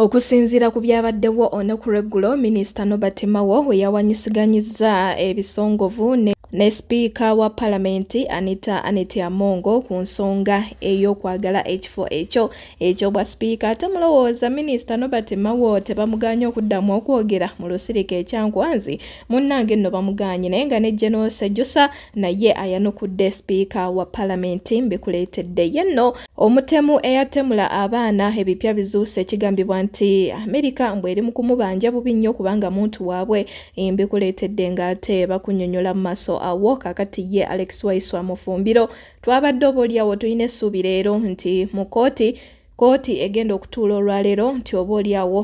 Okusinziira ku byabaddewo olunaku lw'eggulo, minisita Nobert Mao we yawanyisiganyizza ebisongovu ne ne sipiika wa palamenti Anita Aneti Amongo ku nsonga ey'okwagala ekifo ekyo eky'obwa sipiika ate mulowooza minisita Nobert Mao tebamuganye okuddamu okwogera mu lusirika ekyankwanzi munnange nno bamuganye naye nga ne General Sejusa naye ayanukudde sipiika wa palamenti mbikuleetedde ye nno Omutemu eyatemula abaana ebipya bizuuse kigambibwa nti Amerika mbu eri mu kumubanja bubi nnyo kubanga muntu waabwe embikuleetedde ng'ate bakunyonyola mu maaso awo kakati ye Alex Waiswa Mufumbiro twabadde obaolyawo tulina essuubi leero nti mu kkooti kkooti egenda okutuula olwaleero nti oba olyawo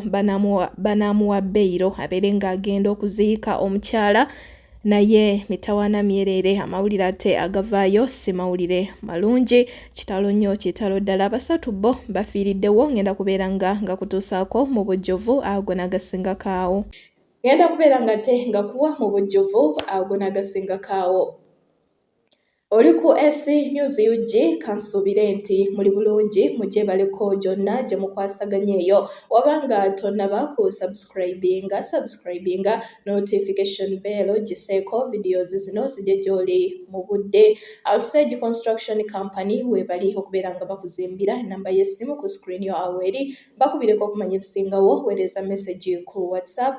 banaamuwa beyiro abeere ng'agenda okuziika omukyala naye mitawana myereere amawulire ate agavaayo si mawulire malungi kitalo nnyo kitalo ddala basatu bo bafiiriddewo ngenda kubeera nga nga kutuusaako mu bujjuvu ago nagasingakaawo ngenda kubeera nga te nga kuwa mu bujjuvu ago nagasingakaawo Oli ku AC News UG kansuubire nti muli bulungi mugyebaleko gyonna gye mukwasaganya eyo wabanga tonnaba ku subscribinga subscribinga notification bell giseeko videos zino zigye gy'oli mu budde Alsage Construction Company weebali okubeera nga bakuzimbira ennamba y'essimu ku screen yo awo eri bakubireko okumanya ebisingawo weereza message ku whatsapp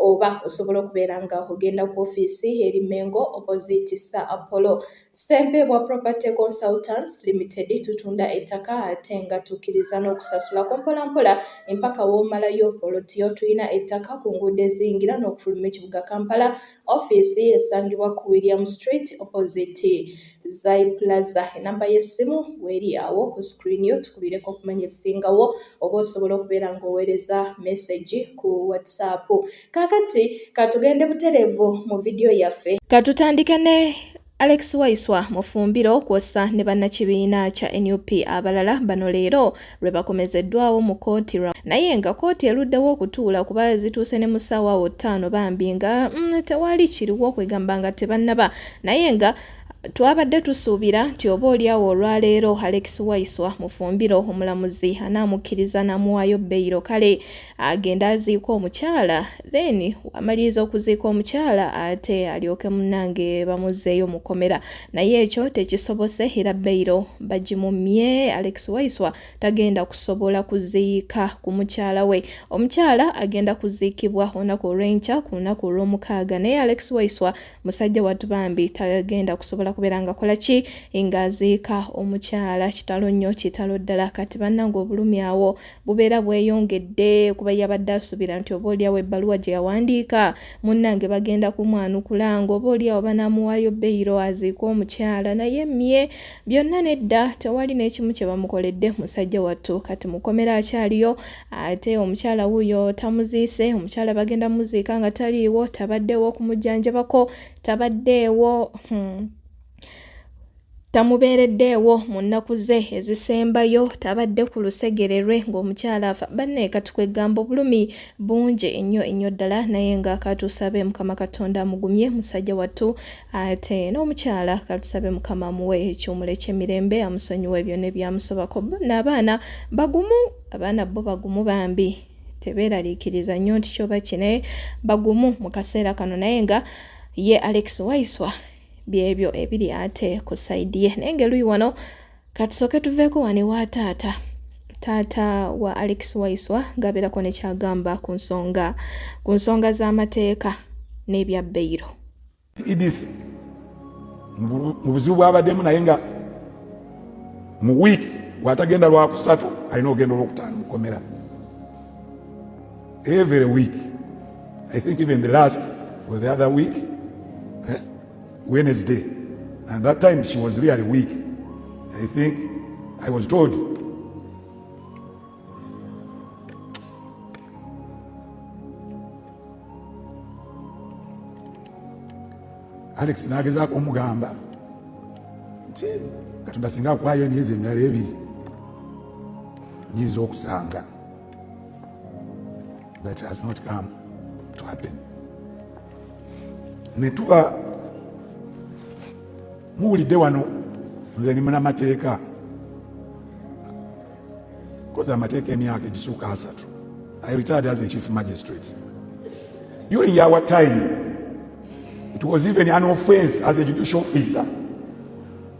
oba osobola okubeera nga ogenda ku ofiisi eri mengo opposite sir apollo sempe bwa property consultants limited tutunda ettaka ate nga tukkiriza n'okusasula ku mpolampola empaka woomalayo olotiyo tulina ettaka ku nguudo eziyingira n'okufuluma ekibuga kampala Ofiisi esangibwa ku William Street opposite Zai Plaza. Enamba y'essimu weeri awo ku screen yo tukubireko okumanya ebisingawo oba osobola okubeera ng'oweereza message ku WhatsApp. Kaakati katugende butereevu mu vidiyo yaffe. Katutandike ne Alex Waiswa Mufumbiro kwossa ne bannakibiina kya nup abalala bano leero lwe bakomezeddwawo mu kkooti ra naye nga kkooti eruddewo okutuula kuba zituuse ne mu ssaawa wo ttaano bambi nga mm, tewali kiriwo okwegamba nga tebannaba naye nga twabadde tusuubira nti oba olyawo olwaleero alex waiswa mufumbiro omulamuzi anaamukkiriza n'amuwaayo beyiro kale agenda aziika omukyala then amaliriza okuziika omukyala ate alyoke munange bamuzzeeyo mukomera naye ekyo tekisobose era beyiro bagimumye alex waiswa tagenda kusobola kuziika ku mukyala we omukyala agenda kuziikibwa olunaku olwenkya ku lunaku olwomukaaga naye alex waiswa musajja watu bambi tagenda kusobola kubeera ngakola ki ngaaziika omukyala kitalo nnyo kitalo ddala kati bannange obulumi awo bubeera bweyongedde kuba yabadde asuubira nti oba olyawo ebbaluwa gye yawandiika munnange bagenda kumwanukula ng'oba olyawo banaamuwaayo beyiro aziika omukyala naye mye byonna nedda tewali n'ekimu kye bamukoledde musajja wattu kati mukomera akyaliyo ate omukyala wuuyo tamuziise omukyala bagenda muziika nga taliiwo tabaddeewo okumujjanjabako tabaddeewo hmm. tamubeereddeewo mu nnaku ze ezisembayo tabadde ku lusegere lwe ng'omukyala afa banne katukwe gamba obulumi bungi ennyo ennyo ddala naye nga katusabe mukama katonda amugumye musajja wattu ate n'omukyala katusabe mukama amuwe ekiwumulo eky'emirembe amusonyiwe byonna ebyamusobako naabaana bagumu abaana bo bagumu bambi tebeeraliikiriza nnyo nti kyoba kine bagumu mu kaseera kano naye nga ye alex waiswa byebyo ebiri ate ku saidi ye naye ngaeluyi wano katusooke tuveeko wane wa taata taata wa alex waiswa ngaabeerako nekyagamba ku nsonga ku nsonga z'amateeka n'ebya beyiro idis mu buzibu bwabaddemu naye nga mu wiiki watagenda lwakusatu alina okugenda olwokutaano mukomera Every week, I think even the last or the other week, eh, Wednesday, and that time she was really weak. I think I was told Alex nagezaako omugamba nti katonda singa akwayo emyezi emirala ebiri nyinza okusanga that has not come to happen netuba muwulidde wano nze ni munamateeka koza amateeka emyaka egisuuka asatu i retired as a chief magistrate during our time it was even an offense as a judicial officer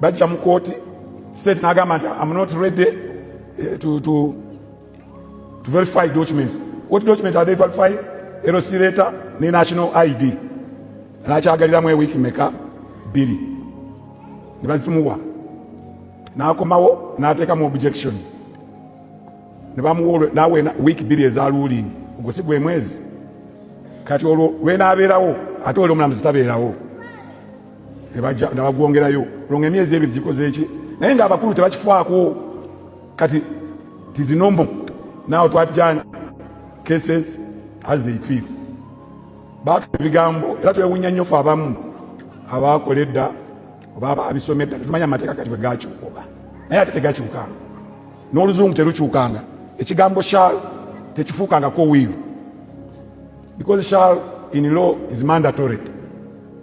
bajja mu kooti state nagamba nti am not ready eh, to, to, to verify documents what document are they verify LC letter ne national ID nakyagaliramu ewiiki meka bbiri ne bazimuwa n'akomawo n'ateekamu objection ne bamuwa nawe wiiki bbiri eza ruling ogwo si gwe mwezi kati olwo lwenaabeerawo ate oli omulamuzi tabeerawo nebagwongerayo olonga emyezi ebiri gikoze eki naye nga abakulu tebakifaako kati tizinombo nawe twatijani cases as they feel batu ebigambo era twewunya nnyo fe abamu abakola edda oba ababisoma edda tetumanya amateeka kati bwegakyuka oba naye ate tegakyuka n'oluzungu terukyukanga ekigambo shal tekifuukangako wiiru because shal in law is mandatory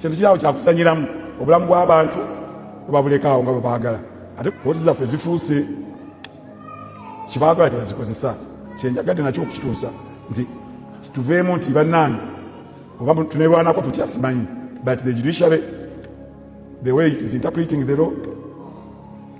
kintu kirawo kyakusanyiramu obulamu bw'abantu obabulekaawo nga bwebaagala ate kooti zaffe zifuuse kyebaagala kyebazikozesa kyenjagadde nakyo okukituusa nti tuveemu nti bannange oba tunerwanako tutya simanyi but the judiciary the way it is interpreting the law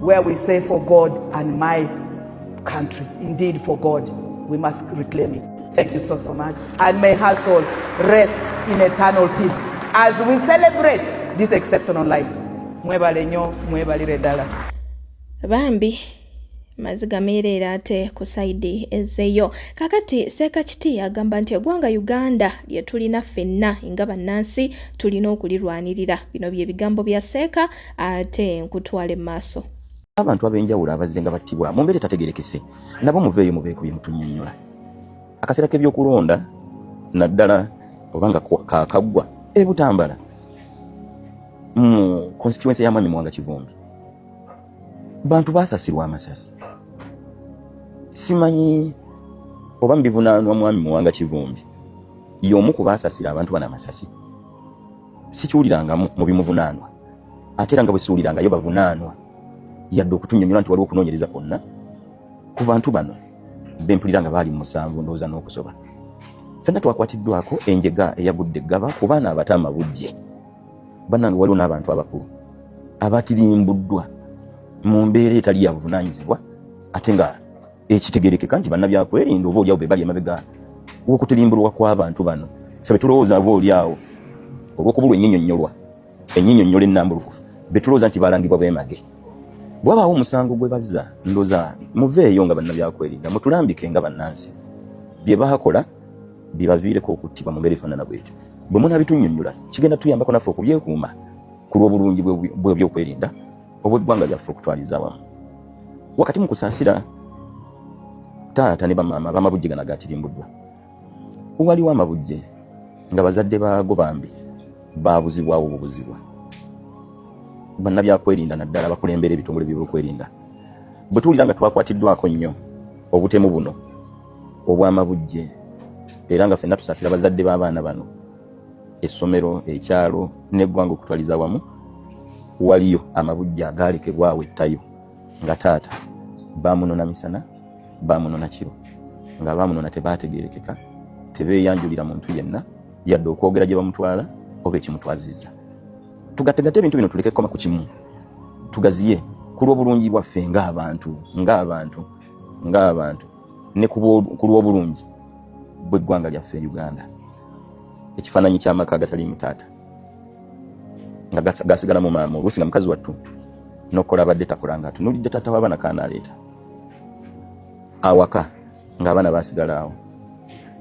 where we say for God and my country indeed for God we must reclaim it thank you so so much and may her soul rest in eternal peace as we celebrate this exceptional life mwebale nyo mwebalire ddala bambi maziga meereere ate ku saidi ezeyo kakati seekakiti agamba nti egwanga uganda lye tulina ffenna nga bannansi tulina okulirwanirira bino bye bigambo bya seeka ate nkutwale maaso abantu ab'enjawulo abazze nga battibwa mu mbeera etategerekese nabo muveeyo mubeekuye mutunyonyola akaseera k'ebyokulonda naddala oba nga kakaggwa e butambala mu konsituwensi ya mwami muwanga kivumbi bantu baasasirwa amasasi simanyi oba mubivunaanwa mwami muwanga kivumbi y'omu ku baasasira abantu bano amasasi sikiwulirangamu mu bimuvunaanwa ate era nga bwe siwulirangayo bavunaanwa yadde okutunyonyola nti waliwo okunoonyereza kwonna ku bantu bano bempulira nga baali mu musanvu ndowooza n'okusoba fenna twakwatiddwako enjega eyagudde eggaba ku baana abato amabujje banange waliwo n'abantu abakulu abatirimbuddwa mu mbeera etali ya buvunanyizibwa ate nga ekitegerekeka nti bannabyakwerinda oba olyawo bebali emabega wokutirimbulwa kwabantu bano fe betulowooza oba olyawo olwokubulwa enyinyonyolwa enyinyonyola enambulukufu betulowooza nti balangibwa bemage bwabaawo omusango gwe bazza ndoza muveeyo nga bannabyakwerinda mutulambike nga bannansi bye bakola bibaviireko okuttibwa mu mbeera efaanana bwetyo bwe munabitunyonyola kigenda tuyambako naffe okubyekuuma ku lw'obulungi bw'ebyokwerinda obweggwanga lyaffe okutwaliza wamu wakati mu kusaasira taata ne bamaama bamabujje gana gatirimbuddwa waliwo amabujje nga bazadde baago bambi baabuzibwawo bubuzibwa bannabyakwerinda naddala bakulembera ebitongole byebyokwerinda bwe tuwulira nga twakwatiddwako nnyo obutemu buno obw'amabujje era nga fenna tusaasira bazadde b'abaana bano essomero ekyalo neggwanga okutwaliza wamu waliyo amabujja agaalekebwawo ettayo nga taata bamunona misana bamunona kiro nga bamunona tebaategerekeka tebeeyanjulira muntu yenna yadde okwogera gye bamutwala oba ekimutwaziza tugategate ebintu bino tuleke kukoma ku kimu tugaziye ku lw'obulungi bwaffe ng'abantu ng'abantu ng'abantu ne ku lw'obulungi bw'eggwanga lyaffe e uganda ekifaananyi ky'amaka agataliimu taata nga gasigala mu maama oluusi nga mukazi wattu nokukola abadde takola nga atunulidde taata w'abaana kaana aleeta awaka ng'abaana basigala awo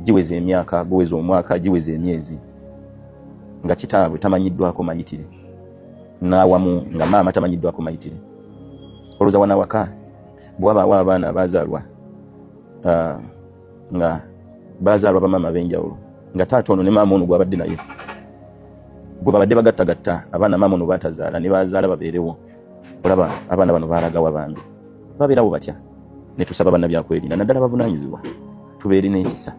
giweza emyaka guweza omwaka giweza emyezi nga kitaabwe tamanyiddwako mayitire n'awamu nga maama tamanyiddwako mayitire olowooza wanawaka bwabawo abaana abazalwa uh, nga bazalwa bamaama abenjawulo nga taata ono ne maama ono gwabadde naye gwe babadde bagattagatta abaana maama ono batazaala ne bazaala babeerewo olaba abaana bano balagawa bambi babeerawo batya ne tusaba bannabyakwerinda naddala bavunaanyizibwa tubeere n'ekisa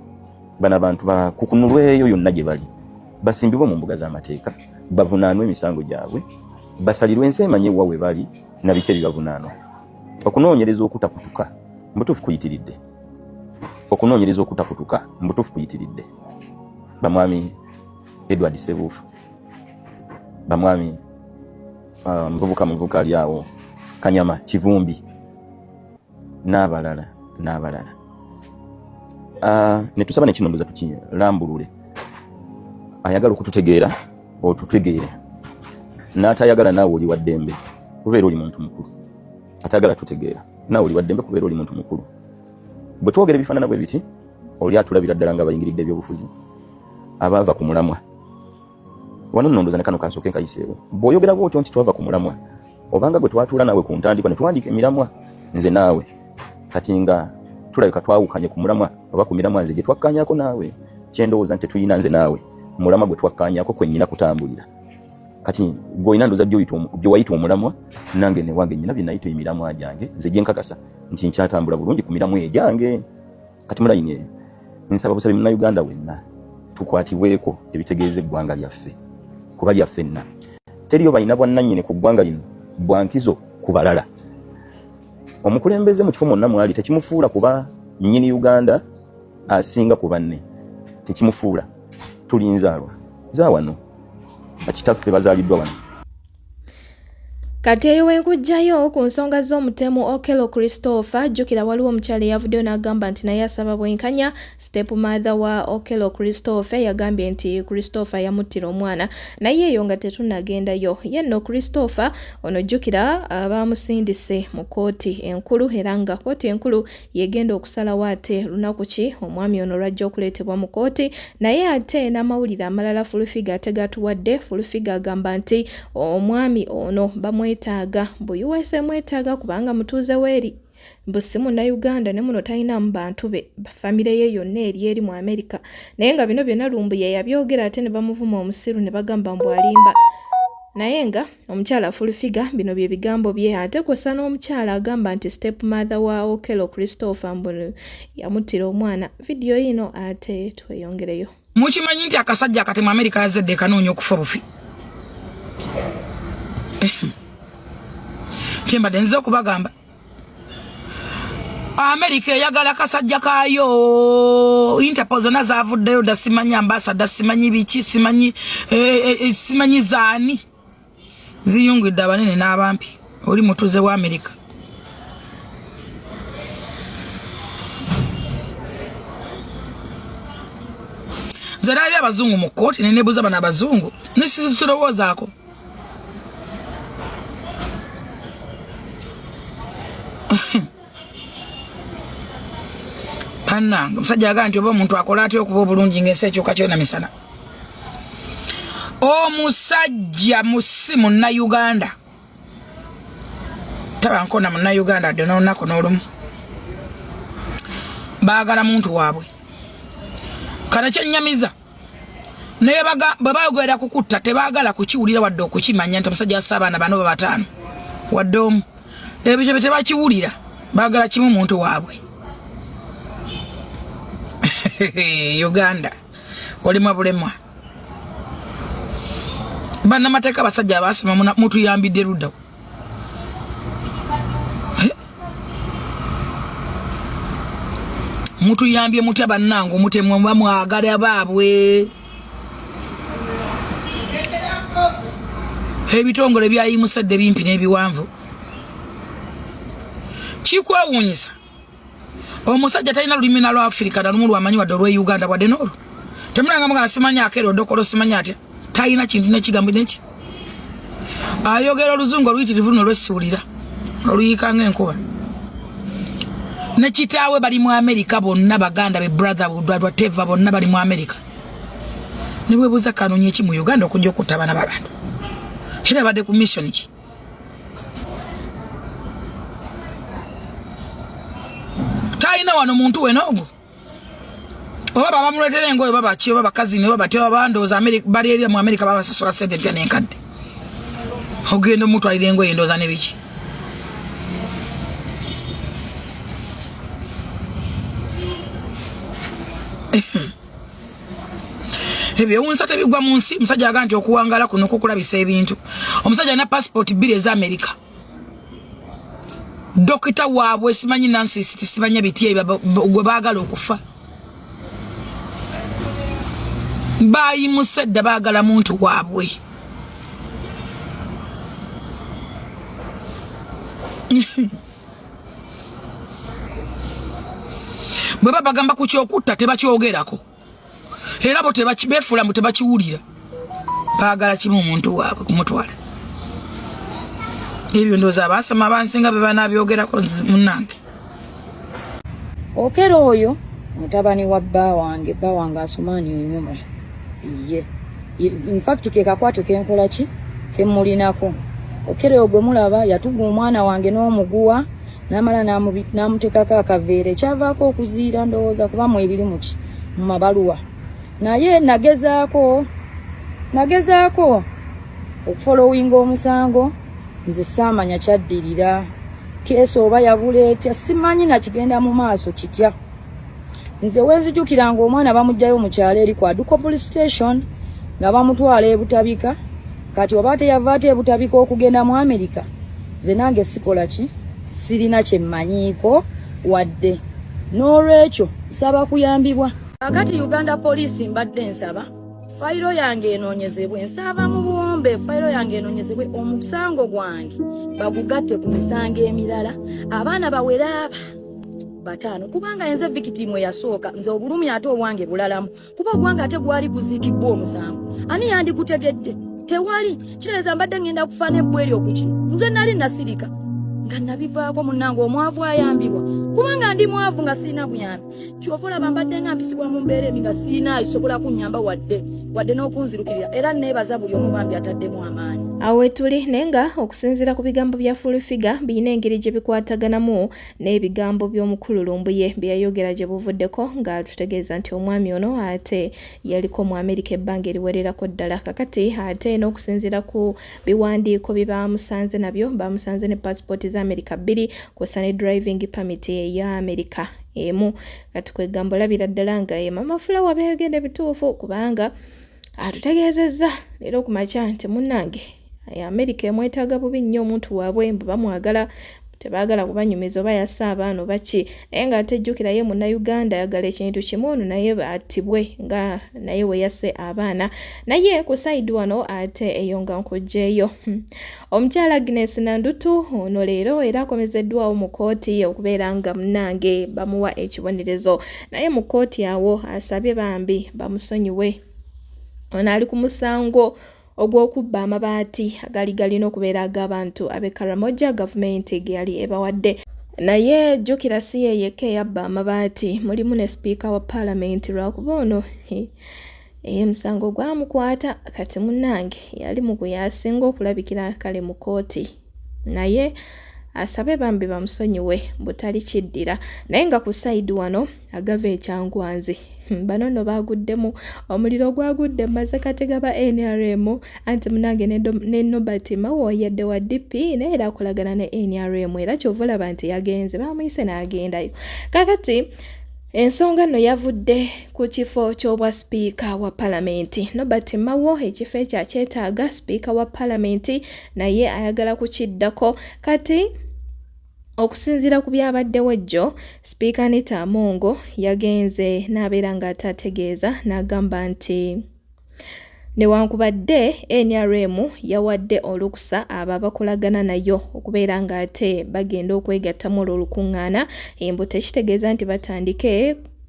bano abantu bakukunulweyo yonna gye bali basimbibwe mu mbuga z'amateeka bavunaanwe emisango gyabwe basalirwe ensi emanyi ewa we bali nabiki ebibavunaanwa okunoonyereza okutakutuka mbutuufu kuyitiridde okunoonyereza okutakutuka mbutuufu kuyitiridde bamwami edward sebuufu bamwami uh, muvubuka muvubuka ali awo kanyama kivumbi n'abalala n'abalala uh, netusaba nekinondoza tukilambulule ayagala okututegeera otutegeera n'atayagala naawe oli waddembe kubeera oli muntu mukulu atayagala tutegeera naawe oli waddembe kubeera oli muntu mukulu bwe twogera ebifaanana bwe biti oli atulabira ddala nga bayingiridde ebyobufuzi abaava ku mulamwa wano nondoza ne kano kansooke nkayiseewo bw'oyogera bwotyo nti twava ku mulamwa obanga gwe twatuula naawe ku ntandikwa ne tuwandiika emiramwa nze naawe kati nga tulabika twawukanye ku mulamwa oba ku miramwa nze gye twakkanyako naawe kyendowooza nti tetulina nze naawe mulamwa gwe twakkanyako kwe nnyina kutambulira kati gwolina ndoza gyewayita omulamwa nange newange nyina byenayita emiramwa gyange nze gyenkakasa nti nkyatambula bulungi ku miramwa egyange kati mulayini eyo nsaba busabi munauganda wenna tukwatibweko ebitegeeza eggwanga lyaffe kuba lyaffenna teriyo balina bwannanyini ku ggwanga lino bwankizo ku balala omukulembeze mu kifo mwonna mwali tekimufuula kuba nyini uganda asinga ku banne tekimufuula tulinzaalwa zawano bakitaffe bazaaliddwa wano Kati eyo wenkujjayo ku nsonga z'omutemu Okello Christopher, jjukira waliwo omukyala eyavuddeyo n'agamba nti naye asaba bwenkanya. Step mother wa Okello Christopher yagambye nti Christopher yamuttira omwana, naye eyo nga tetunagendayo. Ye nno Christopher ono jjukira abaamusindise mu kkooti enkulu era nga kkooti enkulu yegenda okusalawo ate lunaku ki omwami ono lwajja okuleetebwa mu kooti naye ate n'amawulire amalala fulufiga ate gatuwadde fulufiga agamba nti omwami ono bamwetaaga mbu usa mwetaaga kubanga mutuuze weeri mbu si munnayuganda ne muno talinamu bantu be famire ye yonna eri eri mu amerika naye nga bino byonna lumbuye yabyogera ate ne bamuvuma omusiru ne bagamba mbu alimba naye nga Omukyala full figure bino bye bigambo bye ate kw'ossa n'omukyala agamba nti step mother wa Okello Christopher mbu yamuttira omwana. Vidiyo yino ate tweyongereyo. Mukimanyi nti akasajja akati mu Amerika yazadde kanoonya okufa bufi. Kyembadde nziza okubagamba. amerika eyagala kasajja kayo interpol zonna zavuddeyo da simanyi ambasada simanyi biki simanyi eh, eh, eh, simanyi zaani ziyungidde abanene n'abampi oli mutuze wa amerika nze nalabye abazungu mu kkooti nenebuuza bano abazungu nisirowoozaako bannange omusajja agaa nti oba omuntu akola atya okuba obulungi ngaensi ekyuka kyona misana omusajja musi munnayuganda tabankona munnayuganda adde n'olunaku n'olumu baagala muntu waabwe kano kyenyamiza naye bwe bayogerera kukutta tebaagala kukiwulira wadde okukimanya nti omusajja assa abaana bano babataano wadde omu ebyo bye tebakiwulira baagala kimu muntu waabwe uganda olimwa bulemwa bannamateeka abasajja abaasoma mutuyambidde luddawo mutuyambye mutya bannange omutemwa muba mwagala baabwe ebitongole byayimusadde bimpi n'ebiwanvu kikwewuunyisa omusajja talina lulimi na lwafirika nalumu lwamanyi wadde olwe uganda wadde noolwo temulanga mugana simanyi akeera odokolo simanyi atya talina kintu nekigambo neki ayogera oluzungu oluyitirivu luno lwesiwulira oluyiika ngaenkuba nekitaawe bali mu amerika bonna baganda be brother budwadwa teva bonna bali mu amerika nebwebuuza kanonyi eki mu uganda okujja okutta abana babantu era badde ku missioni ki talina wano muntu wena ogwo oba babamuletera engoyo babaki oba bakazini oba batyo babandooza bali eri mu amerika babasasula sente empya nenkadde ogenda omutwalira engoyo endooza nebiki ebyewunsa tebigwa mu nsi omusajja aga nti okuwangala kuno kukulabisa ebintu omusajja alina passport bbiri eza amerika dokita waabwe simanyi nansi simanyi bitye gwe baagala okufa bayimusedda baagala muntu waabwe bwe babagamba ku kyokutta tebakyogerako era bo befuula mu tebakiwulira baagala kimu omuntu waabwe kumutwala ebyo ndooza abaasoma abansinga be banaabyogerako munange okera oyo mutabani wa bba wange bba wange asumaani onyuma ye infact kekakwate kenkola ki kemulinako okerewo gwe mulaba yatuga omwana wange n'omuguwa namala namutekako akaveera ekyavaako okuziira ndowooza kuba mu ebiri muki mu mabaluwa naye nagezaako nagezaako okufolowinga omusango nze saamanya kyaddirira keesa oba yabuleetya simanyi nakigenda mu maaso kitya nze wenzijukira nga omwana bamujjayo mukyalo eri kwa duko police station nga bamutwala ebutabika kati oba teyava ate ebutabika okugenda mu amerika nze nange sikola ki sirina kyemmanyiiko wadde n'olwekyo nsaba kuyambibwa kakati uganda poliisi mbadde nsaba fayiro yange enoonyezebwe nsaba mu buwombe fayiro yange enoonyezebwe omusango gwange bagugatte ku misango emirala abaana baweraaba bataano kubanga enze victim eyasooka nze obulumi ate obwange bulalamu kuba ogwange ate gwali guziikibbwa omusango ani yandigutegedde tewali kitereeza mbadde ngenda kufaana ebbwa eri okuki nze nali nasirika nga nabivaako munnange omwavu ayambibwa kubanga ndi mwavu nga sirina buyambi kyova olaba mbadde nga mpisibwa mu mbeera emi nga sirinaayo sobola kunyamba wadde wadde n'okunzirukirira era neebaza buli omu bambi ataddemu amaanyi awo wetuli naye nga okusinziira ku bigambo bya fulfiga birina engeri gye bikwataganamu n'ebigambo by'omukulu lumbuye bye yayogera gye buvuddeko nga tutegeeza nti omwami ono ate yaliko mu amerika ebbanga eriwererako ddala kakati ate n'okusinziira ku biwandiiko bye baamusanze nabyo baamusanze ne paasipooti za amerika bbiri kwossa ne driving permit eya amerika emu kati kwegamba olabira ddala nga ye mama fulawa byayogedde bituufu kubanga atutegeezezza leero ku makya nti munnange amerika emwetaaga bubi nnyo omuntu waabwe mbu bamwagala tebaagala kubanyumiza oba yassa abaana oba ki naye nga ate jjukira ye munnayuganda ayagala ekintu kimu ono naye attibwe nga naye we yasse abaana naye ku sayidi wano ate eyo nga nkugyeyo hmm. omukyala agnes nandutu ono leero era akomezeddwawo mu kkooti okubeera nga munange bamuwa ekibonerezo naye mu kkooti awo asabye bambi bamusonyiwe ono ali ku musango ogw'okubba amabaati agaali galina okubeera ag'abantu ab'e Karamoja gavumenti ge yali ebawadde. Naye jjukira si ye yekka eyabba amabaati, mulimu ne sipiika wa paalamenti lwakuba ono eye musango gwamukwata kati munnange yali mu gwe yasinga okulabikira kale mu kkooti. naye asabe bambi bamusonyiwe butali kiddira naye nga ku sayidi wano agava ekyangwanzi hmm, bano no baguddemu omuliro gwagudde maze katega ba nrm anti munange ne nobert mawo yadde wa dp naye era akolagana ne nrm era kyova olaba nti yagenze bamuyise n'agendayo kakati ensonga nno yavudde ku kifo ky'obwa sipiika wa palamenti nobert mawo ekifo ekyo akyetaaga sipiika wa palamenti naye ayagala kukiddako kati Okusinziira ku byabaddewo jjo, Sipiika Anita Amongo yagenze n'abeera ng'ataategeeza n'agamba nti newankubadde nrm yawadde olukusa abo abakolagana nayo okubeera ng'ate bagenda okwegattamu olwo olukuŋŋaana embu tekitegeeza nti batandike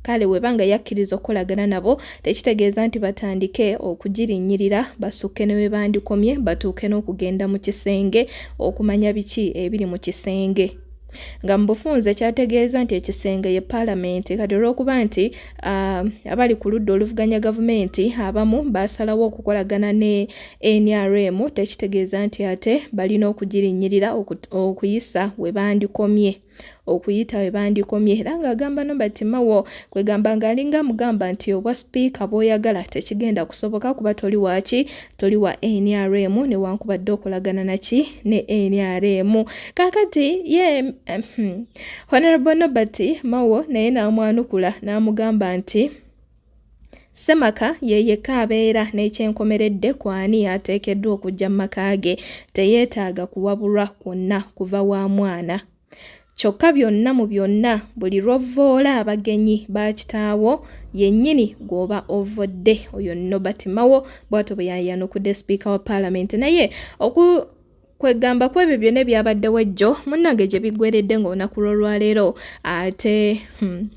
Kale webanga yakkiriza okukolagana nabo tekitegeeza nti batandike okugirinnyirira basukke ne webandikomye batuuke n'okugenda mu kisenge okumanya biki ebiri mu kisenge nga mu bufunze kyategeeza nti ekisenge ye paalamenti kati olw'okuba nti ah, abali ku ludda oluvuganya gavumenti abamu baasalawo okukolagana ne nrm tekitegeeza nti ate balina okugirinnyirira okuyisa we bandikomye okuyita we bandikomye era ng'agamba Norbert Mao kwegamba ng'alinga mugamba nti obwa sipiika bw'oyagala tekigenda kusoboka kuba toli waaki toli wa NRM newankubadde okolagana naki ne NRM kaakati ye hmm, Honorable Norbert Mao naye n'amwanukula n'amugamba nti Ssemaka ye yekka abeera n'ekyenkomeredde ku ani ateekeddwa okujja mu maka ge, teyeetaaga kuwabulwa kwonna kuva wa mwana. Kyokka byonna mu byonna, buli lw'ovvoola abagenyi ba kitaawo yennyini gw'oba ovvodde. Oyo nno Batimawo bw'atyo bwe yayanukudde Sipiika wa Palamenti naye oku kwegamba ku ebyo byona ebyabaddewo ejjo munnange gye biggweredde ng'olunaku lw'olwaleero ate hmm.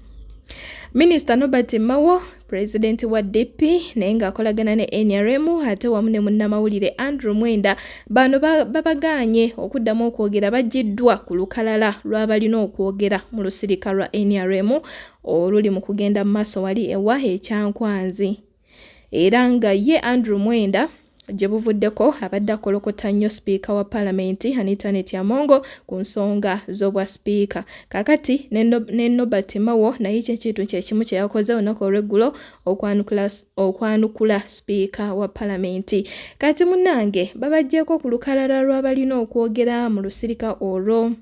minisita nobert mawo pulezidenti wa DP naye ng'akolagana ne NRM ate wamu ne munnamawulire Andrew Mwenda bano babagaanye okuddamu okwogera bagiddwa ku lukalala lw'abalina okwogera mu lusirika lwa NRM oluli mu kugenda mu maaso wali ewa ekyankwanzi. era nga ye Andrew Mwenda gye buvuddeko abadde akolokota nnyo sipiika wa palamenti Anitanet Amongo ku nsonga z'obwa sipiika kakati ne Nobert Mawo naye kyekintu kyekimu kye yakoze olunaku olw'eggulo okwanukula sipiika wa palamenti kati munange babajjeeko ku lukalala lw'abalina okwogera mu lusirika olwo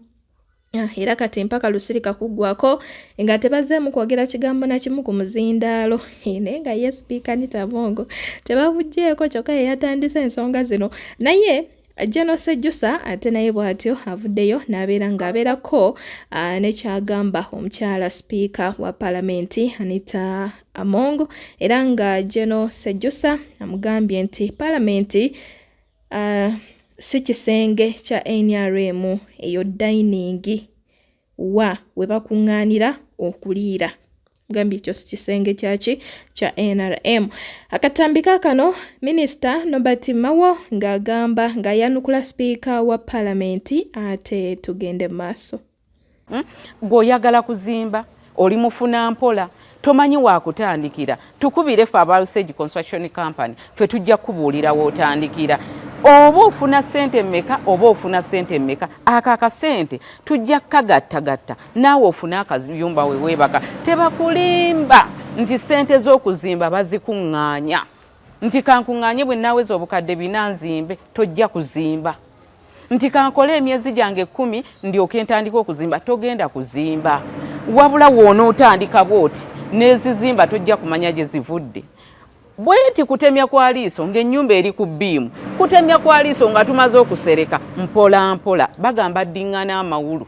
Ah, era kati empaka lusirika kuggwako nga tebazzeemu kwogera kigambo na kimu ku muzindaalo naye nga ye sipiika nitabongo tebabuggyeko kyokka ye yatandise ensonga zino naye General Sejusa ate naye bw'atyo avuddeyo n'abeera ng'abeerako ah, nekyagamba omukyala sipiika wa palamenti Anita Among era nga General Sejusa amugambye nti palamenti Uh, si kisenge kya nrm eyo dayiningi wa we bakuŋŋaanira okuliira gambye ekyo si kisenge kyaki kya nrm akatambi kakano minisita nobert mawo ng'agamba ng'ayanukula sipiika wa palamenti ate tugende mu maaso Hmm? gwe oyagala kuzimba oli mufuna mpola tomanyi wakutandikira tukubire fe aba usage construction company fe tujja kubuulira wotandikira oba ofuna sente meka oba ofuna sente meka ako akasente tujja kukagattagatta naawe ofune akayumba wewebaka tebakulimba nti sente z'okuzimba bazikuŋŋaanya nti kankuŋŋaanye bwe naweza obukadde bina nzimbe tojja kuzimba nti kankole emyezi gyange ekkumi ndyoke ntandika okuzimba togenda kuzimba wabula woonaotandika bwoti nezizimba tojja kumanya gye zivudde bweti kutemya kwa liiso ng'ennyumba eri ku bbiimu kutemya kwa liiso nga tumaze okusereka mpola mpola bagamba dding'ana amawulu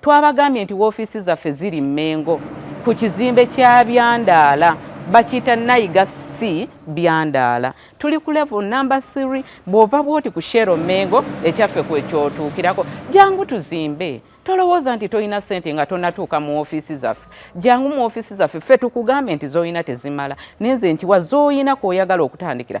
Twabagambye nti woofiisi zaffe ziri Mmengo ku kizimbe kya Byandaala bakiyita Nayiga C Byandaala. Tuli ku level number 3 bw'ova bw'oti ku Shero Mmengo ekyaffe kwe kyotuukirako. Jangu tuzimbe tolowooza nti tolina sente nga tonatuuka mu ofiisi zaffe jangu mu ofiisi zaffe ffe tukugambye nti zolina tezimala naye nze nkiwa zolina kwoyagala okutandikira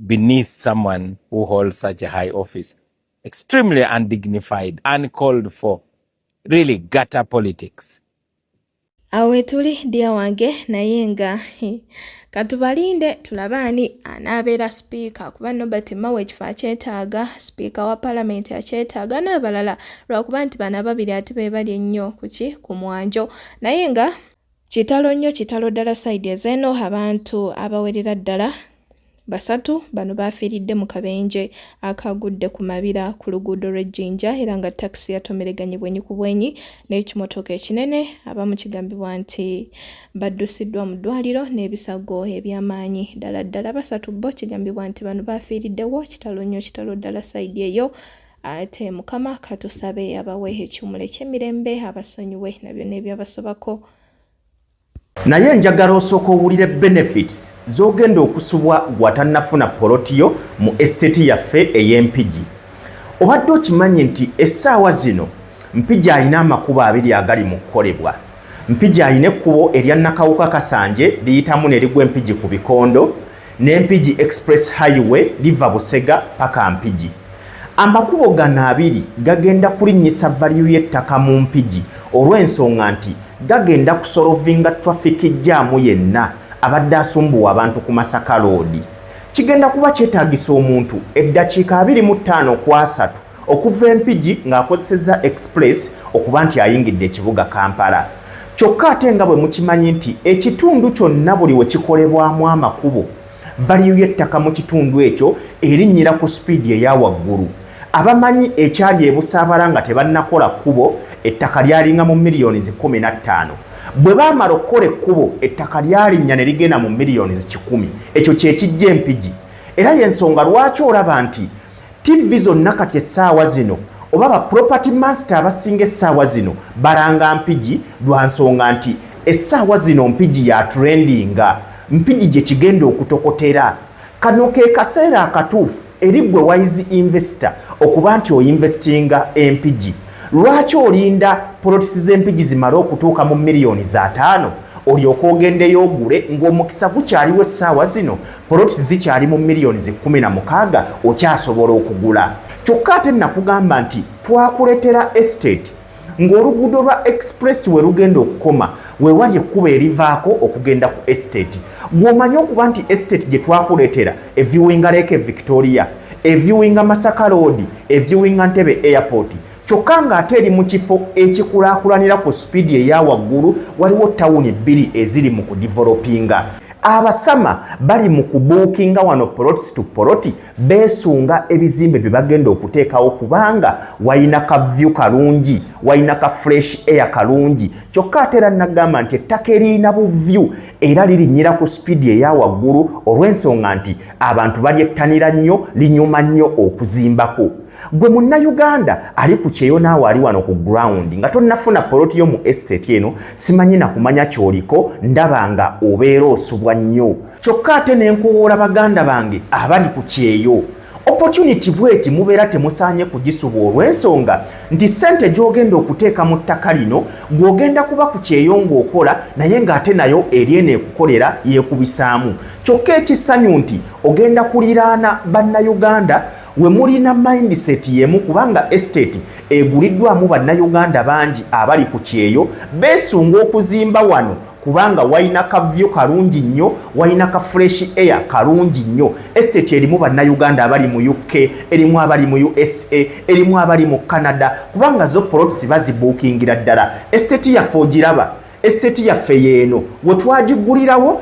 beneath someone who holds such a high office. Extremely undignified, uncalled for, really gutter politics. Awe tuli dia wange naye nga katubalinde tulabe ani anaabeera sipiika kuba nobert mawe ekifo akyetaaga sipiika wa palamenti akyetaaga n'abalala lwakuba nti bano ababiri ate be bali ennyo kuki ku mwanjo naye nga Kitalo nnyo kitalo ddala side ezeeno abantu abawerera ddala basatu bano baafiiridde mu kabenje akaagudde ku mabira ku luguudo lw'e Jinja era nga takisi yatomereganye bwenyi ku bwenyi n'ekimotoka ekinene abamu kigambibwa nti baddusiddwa mu ddwaliro n'ebisago eby'amaanyi ddala ddala basatu bo kigambibwa nti bano baafiiriddewo kitalo nnyo kitalo ddala side eyo ate mukama katusabe abawe ekiwumulo ekyemirembe abasonyiwe na byonna ebyabasobako naye njagala osooka owulire benefits z'ogenda okusubwa gwatannafuna polotiyo mu esiteti yaffe ey'empigi obadde okimanyi nti essaawa zino mpigi alina amakubo abiri agali mu kukolebwa mpigi alina ekkubo erya nakawuka kasanje liyitamu ne ligwa empigi ku bikondo ne Mpigi Express Highway liva Busega paka Mpigi. Amakubo gano abiri gagenda kulinnyisa valiyu y'ettaka mu Mpigi olw'ensonga nti gagenda kusolovinga traffic jjaamu yenna abadde asumbuwa abantu ku Masaka loodi. Kigenda kuba kyetaagisa omuntu eddakiika abiri mu ttaano ku asatu okuva e Mpigi ng'akozesezza Express okuba nti ayingidde ekibuga Kampala. Kyokka ate nga bwe mukimanyi nti ekitundu kyonna buli we kikolebwamu amakubo, valiyu y'ettaka mu kitundu ekyo erinnyira ku sipiidi eya waggulu. Abamanyi ekyali e Busaabala nga tebannakola kkubo, ettaka lyalinga mu miliyoni zi kkumi na ttaano. Bwe baamala okukola ekkubo, ettaka lyalinnya ne ligenda mu miliyoni zi kikumi. Ekyo kye kijja e Mpigi. Era y'ensonga lwaki olaba nti Ttivvi zonna kati essaawa zino oba ba property master abasinga essaawa zino balanga mpigi lwa nsonga nti essaawa zino mpigi ya trendinga mpigi gye kigenda okutokotera kano ke kaseera akatuufu eri gwe wise investor okuba nti oinvestinga empigi lwaki olinda polotisi z'empigi zimale okutuuka mu miliyoni za taano olyoka ogendeyo ogule ng'omukisa gukyaliwo essaawa zino polots zikyali mu millions kumi na mukaaga okyasobola okugula kyokka ate nakugamba nti twakuletera estate ng'oluguudo lwa express we lugenda okukoma wewali ekkubo erivaako okugenda ku estate gw'omanyi okuba nti estate gye twakuleetera eviwinga leeke victoria eviwinga masaka loodi eviwinga ntebe airport kyokka ng'ate eri mu kifo ekikulaakulanira ku sipiidi eya waggulu waliwo tawuni bbiri eziri mu kudivelopinga abasama bali mu kubuukinga wano polotisi tu poloti beesunga ebizimbe bye bagenda okuteekawo kubanga walina ka vyu kalungi walina ka fresh air kalungi kyokka ate era nagamba nti ettaka eririna buvyu era lirinyira ku sipiidi eya waggulu olw'ensonga nti abantu balyettanira nnyo linyuma nnyo okuzimbako gwe munnayuganda ali ku kyeyo naawe ali wano ku ground nga tonnafuna poloti yo mu estate eno simanyi nakumanya kyoliko ndaba nga obeera osubwa nnyo kyokka ate nenkowoola baganda bange abali ku kyeyo opportunity bweti mubeera temusaanye kugisubwa olw'ensonga nti ssente gy'ogenda okuteeka mu ttaka lino gw'ogenda kuba ku kyeyo ng'okola naye ng'ate nayo eri eno ekukolera yeekubisaamu kyokka ekisanyu nti ogenda kuliraana bannayuganda we mulina mindset yemu kubanga estate eguliddwamu bannayuganda bangi abali ku kyeyo beesunga okuzimba wano kubanga walina kavyo kalungi nnyo walina ka fresh air kalungi nnyo estate erimu bannayuganda abali mu uk erimu abali mu usa erimu abali mu canada kubanga zo polots bazibuukingira ddala estate yaffe ogiraba estate yaffe yeeno wetwagiggulirawo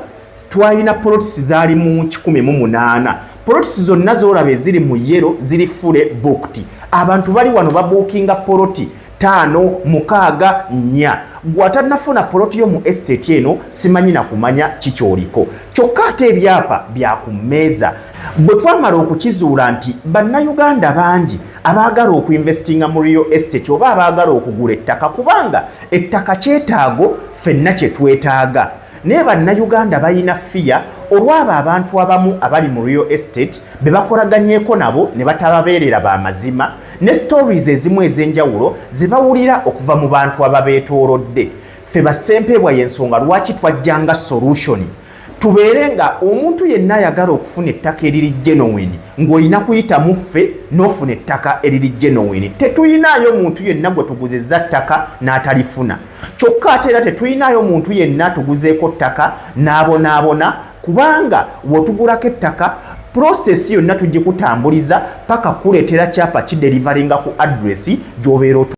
twalina polotisi zaali mu kikumi mu munaana polotisi zonna zolaba eziri mu yero ziri fule bukti abantu bali wano babuukinga poloti taano mukaaga nnya gwatanafuna poloti yo mu estate eno simanyi na kumanya kikyoliko kyokka ate ebyapa byakummeeza bwe twamala okukizuula nti bannayuganda bangi abaagala okuinvestinga mu real estate oba abaagala okugula ettaka kubanga ettaka kyetaago fenna kye twetaaga naye bannayuganda balina fiya olwabo abantu abamu abali mu real estate be bakolaganyeko nabo ne batababeerera ba mazima ne stories ezimu ez'enjawulo ze bawulira okuva mu bantu ababeetoolodde ffe bassempeebwa y'ensonga lwaki twajjanga solution tubeere nga omuntu yenna ayagala okufuna ettaka eriri genoweni ng'olina kuyita mu ffe n'ofuna ettaka eriri genoweni tetuyinaayo muntu yenna gwe tuguzizza ttaka n'atalifuna kyokka ate era tetuyinaayo muntu yenna tuguzeeko ttaka n'abonaabona kubanga wotugulako ettaka purosesi yonna tugikutambuliza paka kuleetera kyapa kiderivalinga ku adresi gy'obeera